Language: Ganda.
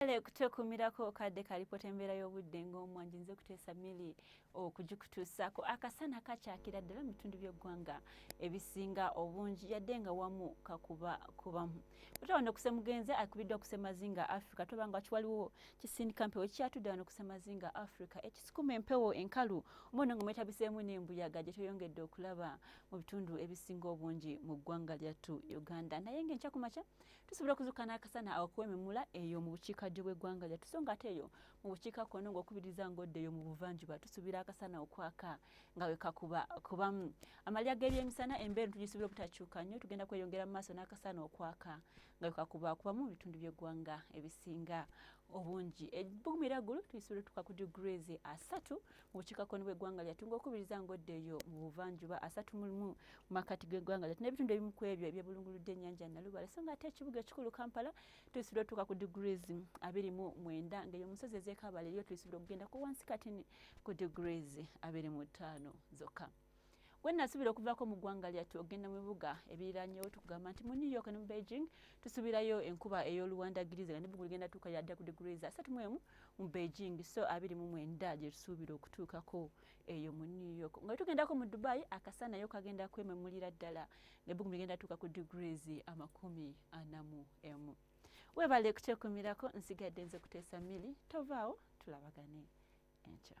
Kale kutwekumirako kadde kalipota embeera y'obudde ng'omwanji nze kuteesa mili okugikutuusaako akasana kakyakira ddala mu bitundu by'eggwanga ebisinga obungi yadde nga wamu kakuba kubamu ota wano kusemugenze akubiddwa kusemazinga africa toba nga kiwaliwo kisindika mpewo kyatudde wano kusemazinga africa ekisukuma empewo enkalu omwono nga mwetabiseemu n'embuyaga gye tweyongedde okulaba mu bitundu ebisinga obungi mu ggwanga lyattu uganda naye nga enkyakumakya tusobola okuzuuka n'akasana awakuwa emimula eyo mu bukiikaddyo bw'eggwanga lyattu so nga ate eyo mu bukiika kkono ng'okubiriza ng'odda eyo mu buvanjuba tusuubira akasana okwaka nga we kakuba kubamu amalya g'ebyemisana embeera tugisuubira obutakyuka nnyo tugenda kweyongera mu maaso n'akasana okwaka nga we kakuba kubamu mu bitundu by'eggwanga ebisinga obungi ebbugumira ggulu tulisuubira tuka ku degrees asatu obukiikakkono bw'eggwanga lyattu ng'okubiriza ng'oddeeyo mu buvanjuba asatu mu lumu mu makkati g'eggwanga lyattu n'ebitundu ebimu ku ebyo ebyebulunguludde ennyanja Nalubale so ng'ate ekibuga ekikulu Kampala tulisuubira otuuka ku degrees abiri mu mwenda ng'eyo omusozi ez'ekaabala eriyo tulisuubira okugenda ku wansi katini ku degrees abiri mu ttaano zokka. gwe nasuubira okuvaako mu ggwanga lyattu okugenda mu bibuga ebiriranyewo tukugamba nti mu new york ne mu beijing tusuubirayo enkuba ey'oluwandagiriza nga nebugulu ligenda tuuka yadda ku degrees asatu mu emu mu beijing so abiri mu mwenda gye tusuubira okutuukako eyo mu new york nga tugendako mu dubai akasanayo kagenda kwememulira ddala nebugulu ligenda tuuka ku degrees amakumi ana mu emu webale kukyekumirako nsigadde nze kuteesa mili tovaawo tulabagane enkya